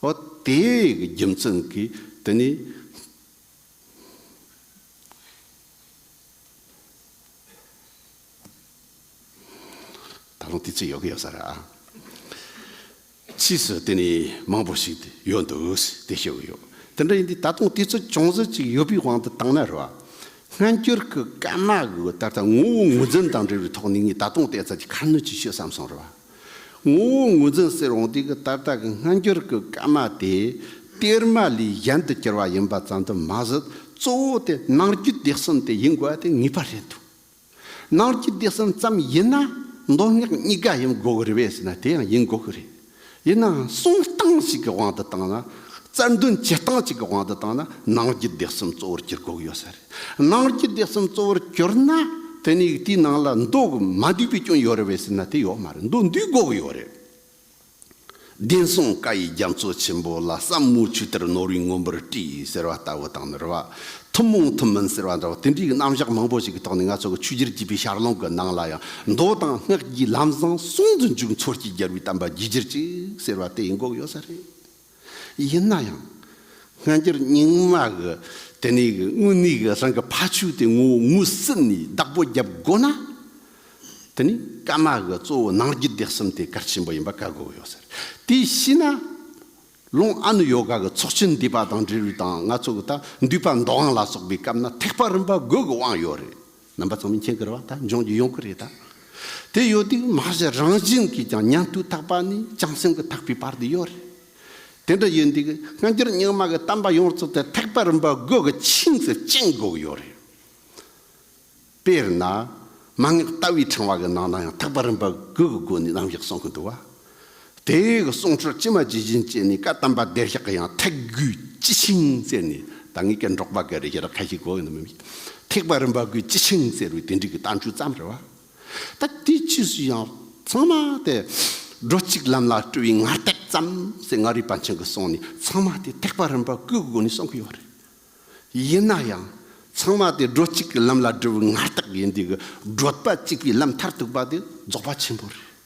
ཨོ་དེ་གི་རྒྱུ་མཚན་གྱིས་དེ་ནི། ད་རུང་དེ་ཚོད་ཡོད་ཀྱི་ཡོད་ས་རེད། ཕྱིས་སུ་དེ་ནི་མང་པོ་ཞིག་ཡོད་འདུག་དེ་ཤེས་ཀྱི་ཡོད། དེ་འདྲ་ཡིན་དུས་ད་དུང་དེ་ཚོད་ཅུང་ཟད་ཅིག་ཡོད་པའི་དབང་དུ་བཏང་ན་རེད། སྔ་འགྱུར་གྱི་སྐད་དམག་གིས་ད་ལྟ་ངོ་བོ་ངོས་འཛིན་དང་འབྲེལ་བའི་ཐོག་ནས་ངས་ད་དུང་བལྟས་ཚར་གྱི་ཁ་སྣོན་ཅིག་ཤོད་བསམ་སོང་རེད། ངོ་བོ་ངོས་འཛིན་ཟེར་འོང་དུས་ཀྱི་ད་ལྟ་གྱི་སྔ་འགྱུར་གྱི་སྐད་དམག་དེ་གཏེར་མ་ལས་གཞན་དུ་གྱུར་བ་ཡིན་པ་ཙམ་དུ་མ་ཟད་གཙོ་བོ་དེ་ནང་རྒྱུད་སྡེ་གསུམ་དེ་ཡིན་དགོས་པ་དེ་ངེས་པ་རེད་འདུག། ནང་སྐྱིད་བདེ་སེམས་ཙམ་ཡིན་ན་མདོ་སྔགས་གཉིས་ཀ་ཡིན་དགོས་ཀྱི་རེད་བས་ཟེར་ན་དེ་ཡང་ཡིན་དགོས་ཀྱི་རེད། ཡིན་ནའང་གསུང་སྟངས་ཤིག་གི་དབང་དུ་བཏང་ན། རྩལ་འདོན་བྱེད་སྟངས་ཅིག་གི་དབང་དུ་བཏང་ན་ནང་སྐྱིད་བདེ་སེམས་གཙོ་བོར་གྱུར་དགོས་ཀྱི་ཡོད་ས་རེད། ནང་སྐྱིད་བདེ་སེམས་གཙོ་བོར་གྱུར་ན་དེ་ནས་དེའི་ནང་ལ་མདོ་དགུ་མ་འདུས་པའི་སྐྱོན་ཡོད་རེད་བས་ཟེར་ན་དེ་ཡོད་མ་རེད་མདོ་འདུས་དགོས་ཀྱི་ཡོད་རེད། བདེན་སྲུང་བཀའ་ཡི་རྒྱ་མཚོ་ཆེན་པོ་ལ་ཟབ་མོའི་ཆུ་གཏེར་ནོར་བུའི་མགོན་པོར་བཀྲི་ཟེར་བ་ལྟ་བུ་དང་ནོར་བ་ཐུན་མོང་ཐུན་མིན་ཟེར་བ་འདྲ་བོ་དེ་འདྲའི་རྣམ་གཞག་མང་པོ་ཞིག་གི་ཐོག་ནས་ང་ཚོ་གི་ཆོས་རྒྱུད་སྤྱི་པའི་ཞར་ལམ་གྱི་ནང་ལ་ཡང་མདོ་དང་སྔགས་ཀྱི་ལམ་བཟང་གསུམ་དུ་འཇུག་མཚོ་སྐྱེས་རྒྱལ་བའི་གཏམ་པ་རྒྱུད་གཅེར་གཅིག་ཟེར་བ་དེ་ཡིན་འགོག་ཡོད་ས་རེད། ཡིན་ན་ཡང། སྔ་འགྱུར་རྙིང་མ་གི་དེ་ནས་གི་དངོས་གནས་གི་རང་གི་ཕ་ཆོས་དེ་ངོ་བོ་ངོས་ཟིན་ནས་བདག་པོ་རྒྱབ་དགོས་ན། དེ་ནས་ཀརྨ་གི་གཙོ་བོ་ནང་རྒྱུད་སྡེ་གསུམ་དེ་གར་ཆེན་པོ་ཡིན་པ་བཀའ་བསྒོ་ཡོད་ཟེར། དེ་ཤི་ན། ལུང་ཨ་ནུ་ཡོ་ག་གི་ཚོགས་ཆེན་འདུས་པ་དང་འབྲེལ་བའི་དང་ང་ཚོ་གི་ད་འདུས་པ་མདོ་དབང་ལ་སོགས་པའི་སྐབས་ན་ཐེག་པ་རིམ་པ་དགོས་གི་དབང་ཡོད་རེད། རྣམ་པ་ཚང་མས་མཁྱེན་དགོས་པ་དང་འབྱུང་རྒྱུ་ཡོང་གི་རེད་ད། དེ་ཡོད་དུས་མ་གཞི་རང་བཞིན་གྱིས་ཀྱང་ཉམས་དུས་ཐག་པ་ནི་བྱང་སེམས་ཀྱི་ཐག་པའི་བར་དུ་ཡོད་རེད། དེ་འདྲ་ཡོད་དུས་སྔ་འགྱུར་རྙིང་མ་གི་གཏམ་པ་ཡོངས་རྫོགས་དེ་ཐེག་པ་རིམ་པ་དགུ་གི་ཆིངས་སུ་བཅིང་དགོས་ཡོད་རེད། དཔེར་ན། མ་ངེས་ལྟ་བའི་ཕྲེང་བ་གི་ནང་ན་ཡང་ཐེག་པ་རིམ་པ་དགུ་གི་སྒོ་ནས་རྣམ་གཞག་གསུང་གི་འདུག་བ། དེ་ཡི་གི་གསུང་ཆོས་ཅི་མ་ཇི་བཞིན་ཅེས་ནི་བཀའ་གདམས་པ་བདེ་གཤེགས་ཀྱི་ཡང་ཐེག་དགུའི་སྤྱི་ཆིངས་བཙལ་ནས་ད་ངེད་ཀྱི་འབྲོག་པ་འགའ་རེ་ཡི་ར་ཁ་ཞིག་གོ་ཡོང་ན་མི་ཐེག་པ་རིམ་པ་དགུའི་སྤྱི་ཆིངས་བཙལ་བའི་དེ་འགྲིག་གི་གཏམ་རྒྱུད་ཙམ་རེ་བ། ད་དེའི་ཕྱིས་སུ་ཡང་ཚང་མ་དེ་སྒྲོ་གཅིག་ལམ་ལ་སྤྲོ་བའི་ངར་ལྟས་ཙམ་ཟེར་ང་རིག་པ་མཁྱེན་གི་གསུང་ནི་ཚང་མ་དེ་ཐེག་པ་རིམ་པ་དགུའི་སྒོ་ནས་གསུང་གི་ཡོད་རེད། ཡིན་ན་ཡང་ཚང་མ་དེ་སྒྲོ་གཅིག་གི་ལམ་ལ་སྒྲོ་བའི་ངར་ལྟས་ཡིན་དུས་ཀྱི་སྒྲོད་པ་གཅིག་པའི་ལམ་མཐར་ཐུག་པ་དེ་རྫོགས་པ་ཆེན་པོ་རེད།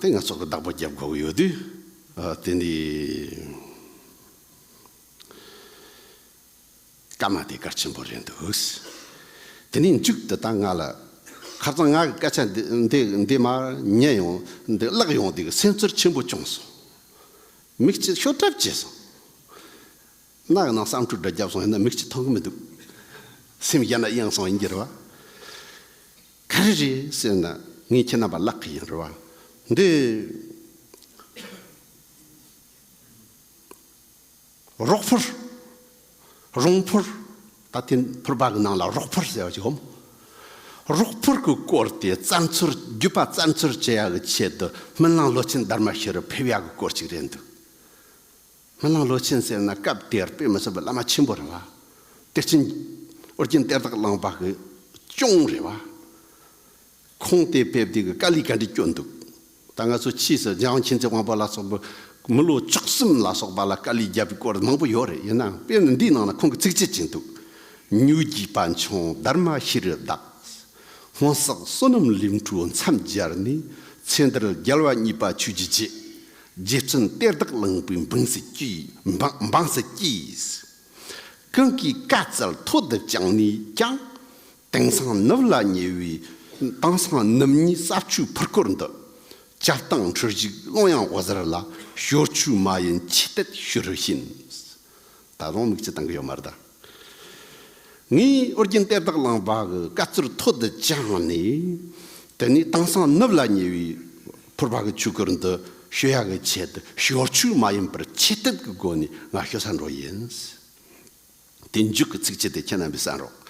དེ་ངས་ཚོགས་པའི་བདག་པོ་བརྒྱབ་དགོས་ཀྱི་ཡོད་དུས། དེ་འདྲའི་སྐར་མ་དེ་སྐར་ཆེན་པོ་རེད་འདུག། དེ་ནས་མཇུག་དེ་ལྟར་ང་ལ། ཁ་རྩང་ང་གི་སྐད་ཆ་འདི་མར་ཉན་ཡོང། འདི་བཀླགས་ཡོང་དུས་སེམས་ཚོར་ཆེན་པོ་བྱུང་སོང། མིག་ཆུ་ཤོར་གྲབས་བྱས་སོང། སྣ་གི་ནང་བསམ་འཁྲུག་འདྲ་བརྒྱབ་སོང་ཡིན་ན་མིག་ཆུ་མཐོང་གི་མི་འདུག། སེམས་ཡ་ན་གཡང་སོང་ཡིན་གྱི་རེད་བ། ག་རེ་རེད་ཟེར་ན་ངས་ཁྱེད་རྣམ་པ་བརླག་གི་ཡིན་རེད་བ་འདི། རོག་ཕུར། རོང་ཕུར། ད་ཐེངས་ཕུར་པ་གི་ནང་ལ་རོག་ཕུར་ཟེར་བ་ཞིག་འོང། རོག་ཕུར་གི་སྐོར་དེ་རྩ་འཚོལ་བརྒྱུད་པ་རྩ་འཚོལ་བྱེད་ཡག་གི་ཆེད་དུ་སྨོན་ལམ་ལོ་ཆེན་སྡར་མ་ཤི་རུ་ཕེབས་ཡག་གི་སྐོར་ཅིག་རེད་འདུག། མི་ལང་ལོ་ཆེན་ཟེར་ན་སྐབས་དེར་དཔེ་མི་སྲིད་པའི་བླ་མ་ཆེན་པོ་རེད་བ། གཏེར་ཆེན། ཨོ་རྒྱན་གཏེར་བདག་གླང་པ་གི་གཅུང་རེད་བ། ཁོང་དེ་ཕེབས་དུས་ཀྱི་དཀའ་ལས་ག་འདྲས་སྐྱོ་འདུག་ད་ང་ཚོ་ཕྱིས་སུ་འཇང་མཁྱེན་བརྩེ་དབང་པོ་ལ་སོགས་པའི་མི་ལོ་བཅུ་གསུམ་ལ་སོགས་པ་ལ་དཀའ་ལས་བརྒྱབ་པའི་སྐོར་མང་པོ་ཡོད་རེད་ཡིན་ནའང་དཔེ་འདིའི་ནང་ན་ཁོང་གི་ཚིག་བཅད་ཅིག་འདུག་ཉུག་བགྱིས་པ་འཕྱོང་སྡར་མ་ཤི་རུ་བདག། སྔོན་བསགས་བསོད་ནམས་ལིང་ཁྲུ་མཚམས་སྦྱར་ནས་ཚེ་འདིར་རྒྱལ་བ་གཉིས་པ་ཆོས་ཀྱི་རྗེ། རྗེ་བཙུན་གཏེར་བདག་གླིང་པའི་འབངས་སུ་སྐྱེས། ཀུན་གྱིས་བཀའ་སྩལ་ཐོག་བསྡུ་བསྐྱངས་ནས་ཀྱང། དེང་སང་ནུབ་ལ་ཉེ་བའི་དེང་སང་ནུབ་གཉིས་ས་ཆུའི་ཕུར་སྐོར་འདི། སྐྱབས་སྟངས་འཕྲུལ་གཞུག་ཀློང་ཡངས་འོད་ཟེར་ལ་ཞོར་ཆུའི་མ་ཡིན་ཆུ་གཏེར་ཞུ་རུ་ཕྱིན། ད་དུང་དམིགས་ཀྱི་སྟངས་ཀྱི་ཡོད་མ་རེད་ད། ངས་ཨོ་རྒྱན་གཏེར་བདག་གླང་པ་གི་བཀའ་སྩོལ་ཐོག་ཏུ་བཅངས་ནས། དེ་ནས་དེང་སང་ནུབ་ལ་ཉེ་བའི་ཕུར་པ་གི་ཆོས་སྐོར་འདི་ཞུ་ཡ་གི་ཆེད་དུ་ཞོར་ཆོས་མ་ཡིན་པར་ཆེད་དེབ་ཀྱི་སྒོ་ནས་ང་ཞུ་ས་འགྲོ་ཡིན། དེ་མཇུག་གི་ཚིག་ཕྱི་དེ་ཁྱེད་རྣམ་པས་གསན་རོགས།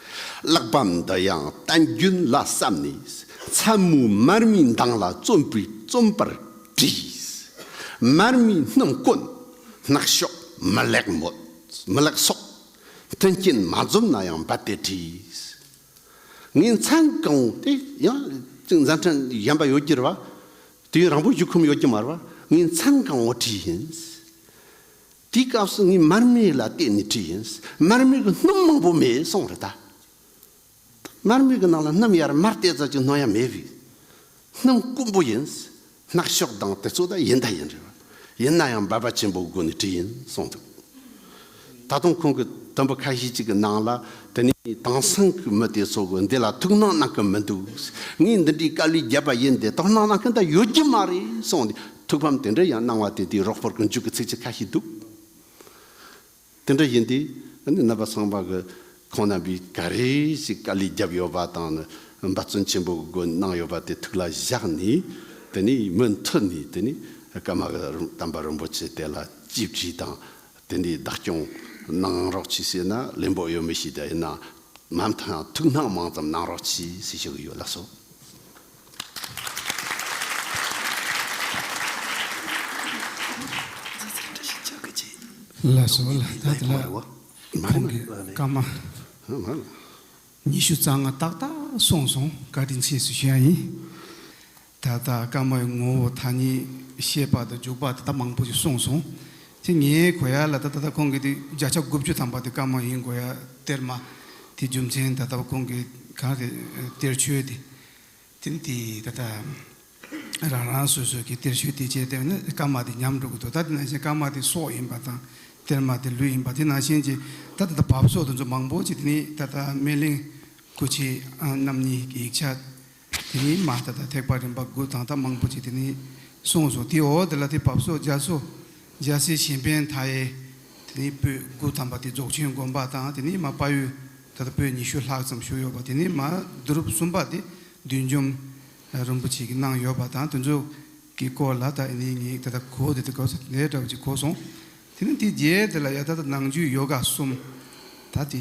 གླགས་བམ་འདི་ཡང་བསྟན་རྒྱུན་ལ་བསམ་ནས་མཚན་མོའི་མར་མེའི་མདངས་ལ་བརྩོན་པའི་བརྩོན་པར་བྲིས། མར་མེའི་སྣུམ་བསྐོལ་ནག་ཤོག་མི་ལེགས་མོད། མི་ལག་སོགས་མཐུན་རྐྱེན་མ་འཛོམས་ན་ཡང་འབད་པས་བྲིས། ངའི་མཚན་གང་དེ་ཡང་མཛའ་མཐུན་གཞན་པ་ཡོད་ཀྱིར་བ། དུས་ཡུན་རིང་པོ་བཞུགས་ཁོམ་ཡོད་ཀྱི་མར་བ་ངའི་མཚན་གང་འོག་བྲིས་ཡིན། དེའི་སྐབས་སུ་ངས་མར་མེ་ལ་བལྟས་ནས་བྲིས་ཡིན། མར་མེ་གི་སྣུམ་མང་པོ་མེད་སོང་རེད་ད། མར་མེ་གི་ནང་ལ་སྣུམ་ཡར་མར་བལྟས་ཙམ་གྱིས་སྣང་ཡ་མེད་པའི་སྣུམ་དཀོན་པོ་ཡིན། སྣག་ཤོག་དང་དེ་ཚོ་ད་ཡིན་ད་ཡིན་རེད་བ། ཡིན་ན་ཡང་འབར་བ་ཆེན་པོའི་སྒོ་ནས་བྲིས་ཡིན་གསུངས་འདུག་ད་དུང་ཁོང་གི་དོན་པོ་ཁ་ཤས་ཅིག་གི་ནང་ལ་དེ་ནས་དེང་སང་གི་མི་དེ་ཚོ་གི་འདི་ལ་ཐུགས་སྣང་གནང་གི་མི་འདུག་ངས་འདི་འདྲའི་དཀའ་ལས་བརྒྱབ་པ་ཡིན་དེ་དོགས་སྣང་གནང་མཁན་ད་ཡོད་ཀྱི་མ་རེད་གསུངས་ནས་ཐུགས་ཕམ་དེ་འདྲ་ཡང་གནང་བ་དེ་དེའི་རོགས་པོར་གི་འཇུག་གི་ཚིག་ཆ་ཁ་ཤས་འདུག། དེ་འདྲ་ཡིན་དུས་ཨ་ནི་རྣམ་པ་ཚང་པ་གི་ཁོང་རྣམ་པའི་ག་རེ་ཞིག་དཀའ་ལས་བརྒྱབ་ཡོད་པ་དང་ནི་འབད་བརྩོན་ཆེན་པོ་སྒོས་གནང་ཡོད་པ་དེ་ཐུགས་ལ་བཞག་ནས་དེ་ནས་མུ་མཐུད་ནས་དེ་ནས་ཀརྨ་གི་དམ་པ་རིན་པོ་ཆེ་དེ་ལ་ཅིས་བགྱིས་དང་དེ་ནས་བདག་སྐྱོང་གནང་རོགས་གྱིས་ཟེར་ན་ལེན་པོ་ཡོད་མི་ཤེས་ད་ཡིན་ན་མ་མཐའ་ཐུགས་སྣང་མང་ཙམ་གནང་རོགས་གྱིས་ཞེས་ཞུ་གི་ཡོད་ལགས་སོ། ལ་སོགས་ལ་ད་ལྟ་ལ་ཁོང་གི་བཀའ་མ། ཉི་ཤུ་རྩ་ལྔ་ཏག་ཏག་གསུངས་སོང་བཀའ་དྲིན་ཆེ་ཞུ་ཡ་ཡིན། ད་ལྟ་བཀའ་མའི་ངོ་བོ་ཐ་སྙད་བཤད་པ་དང་འཇུག་པ་ད་ལྟ་མང་པོ་ཞིག་གསུངས་སོང། དེ་ངའི་གོ་ཡ་ལ་ད་ལྟ་ཁོང་གི་དེ་བརྒྱ་ཆ་དགུ་བཅུ་ཐམ་པ་དེ་བཀའ་མ་ཡིན་གོ་ཡ་སྟེར་མ། དེ་རྒྱུ་མཚན་ད་ལྟ་ཁོང་གི་གང་རེད་སྟེར་ཆོས་དེ། དེ་འདི་ད་ལྟ་རང་རང་སོ་སོ་གི་གཏེར་ཆོས་དེ་བྱས་ཏེ་ནི་སྐར་མ་དེ་ཉམས་འགྲོ་གི་འདུག་ད་དེ་ནང་བཞིན་སྐར་མ་དེ་སྲོག་ཡིན་པ་དང་གཏེར་མ་དེ་ལུས་ཡིན་པ་དེ་ནང་བཞིན་གྱི་ད་ལྟ་འདི་བབས་སོགས་དེ་ཚོ་མང་པོ་ཅིག་དེ་ནི་ད་ལྟ་སྨན་གླིང་སྐུ་མཆེད་རྣམ་གཉིས་ཀྱི་ཡིག་ཆ་དེ་ནི་མ་ད་ལྟ་ཐེག་པ་རིམ་པ་དགུ་དང་ད་མང་པོ་ཅིག་དེ་ནི་གསུངས་སོ་དེའི་འོག་དེ་ལ་དེ་བབས་སོགས་རྒྱ་མཚོ། འཇའ་ཟེར་གཞན་ཕན་མཐའ་ཡས། དེ་ནས་པོད་དགུ་དམ་པ་དེ་རྫོགས་ཆེན་དགོན་པ་དང་དེ་ནས་མ་དཔའ་ཡུལ་ད་ལྟ་པོད་ཉི་ཤུ་ལྷག་ཙམ་བཞུགས་ཡོད་པ་དེ་ནས་མ་བསྡུ་རུབ་གསུམ་པ་དེ་བདུད་འཇོམས་རིན་པོ་ཆེ་གིས་གནང་ཡོད་པ་དང་དེ་ཚོ་གི་སྐོར་ལ་ད་ནི་ངས་ད་ལྟ་གོ་བདེ་ད་གོ་ས་དེ་འདྲ་བ་ཅིག་གོ་སོང། དེ་ནི་དེའི་རྗེས་དེ་ལ་ཡང་ད་ལྟ་ནང་རྒྱུད་ཡོ་ག་གསུམ་ད་དེ།